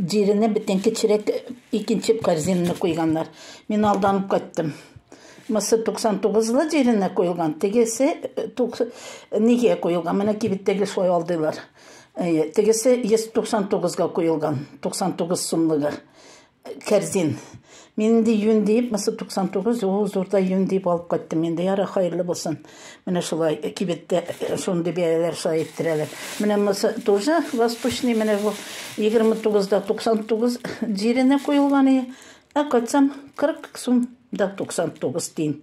Җиренә бөтен кечерәк икенче корзинаны куйганнар. Мин алданып кайттым. Мысы 99 лы җиренә куелган, тегесе нигә куелган? Менә кибеттәге шулай алдыйлар. Тегесе 199 га куелган, 99 сумлыгы корзин. Мин инде юн диеп, мысы 99, ул зурда юн диеп алып кайттым. Инде яра хайырлы булсын. Менә шулай кибеттә э, шундый бәяләр шулай иттерәләр. Менә мысы тоже восточный, менә бу 29-да 99 җиренә куелган. Ә кайтсам 40 сум да 99 тин.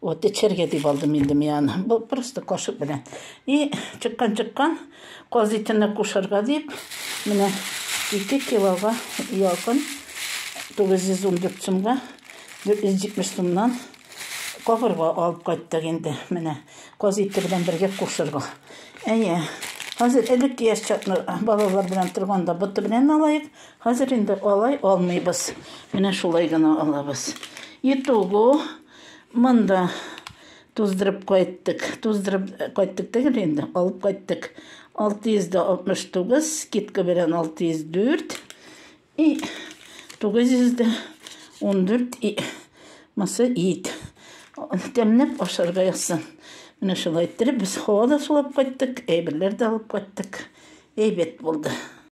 Вот, эчәргә дип алдым инде мин аны. Бу просто кашык белән. И чыккан чыккан каз итенә кушарга дип, менә 2 килога якын 914 сумга 470 сумнан кабырга алып кайттык инде. Менә каз ите белән бергә кушарга. Әйе. Хәзер элек яшь чакны балалар белән торганда боты белән алайык. Хәзер инде алай алмыйбыз. Менә шулай гына алабыз. Итого монда туздырып кайттык. Туздырып кайттык түгел инде, алып кайттык. 669, скидка белән 604 и 914 и мысы ит. Тәмләп ашарга язсын. Менә шулай иттереп без һава да сулап кайттык, әйберләр дә алып кайттык. Әйбәт булды.